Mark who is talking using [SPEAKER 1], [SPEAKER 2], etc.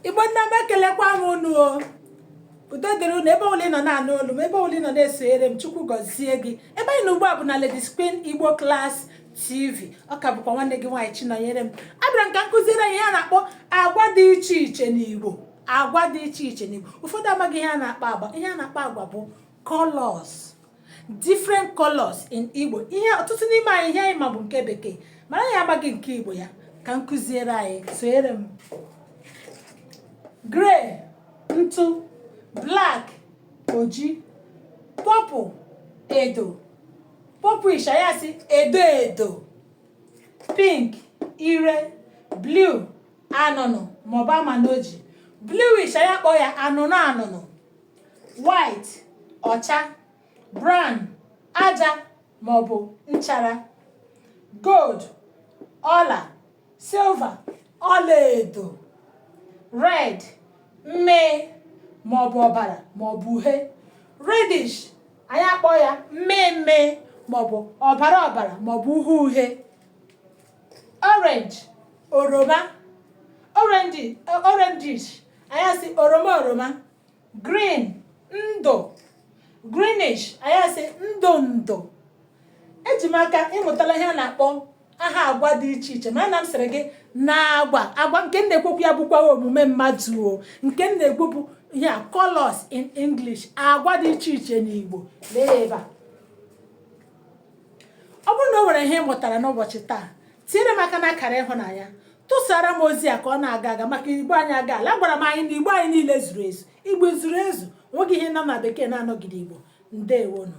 [SPEAKER 1] igbo nna m ekelekwa m unu o udo dịrị unu ebe ọbụla ị nọ na-anụ olu m ebe ọbụla ị nọ na-esonyere m chukwu gọzie gị ebe anyị nọ ugbu a bụ na Ladies Queen Igbo Class TV ọ ka bụkwa nwanne gị nwaanyị Chinọnyerem abịara m ka m kụziere anyị ihe a na-akpọ agwa dị iche iche n'Igbo agwa dị iche iche n'Igbo ụfọdụ amaghị ihe a na-akpọ agwa ihe a na-akpọ agwa bụ colors different colors in Igbo ihe ọtụtụ n'ime anyị ihe anyị ma bụ nke bekee mana anyị amaghị nke Igbo ya ka m kụziere anyị sonyere m gray ntụ black oji purple edo purplish anyị asị edo edo pink ire blue anụnụ maọbụ amanoji bluish anyị akpọ ya anụnụ anụnụ white ọcha brown aja ma ọ bụ nchara gold ọla silver ọlaedo red mmee ma ọ bụ ọbara ma ọ bụ uhie reddish anyị akpọ ya mmee mmee ma ọ bụ ọbara ọbara ma ọ bụ uhie uhie orange oroma orangish anyị asị oroma oroma green ndụ greenish anyị asị ndụ ndụ eji m aka ị mụtala ihe a na-akpọ aha agwa dị iche iche mana m sịrị gị na agwa nke m na-ekwu okwu ya abụkwa omume mmadụ o nke m na-ekwu bụ ya colors in English agwa dị iche iche n'Igbo lee ya ebe a ọ bụrụ na o nwere ihe ị mụtara n'ụbọchị taa tinyere m aka n'akara ịhụnanya tụsara m ozi a ka ọ na-aga aga maka igbo anyị aga ala agwara m anyị na igbo anyị niile zuru ezu igbo zuru ezu nweghị ihe nọ na bekee na-anọghị n'igbo ndewonụ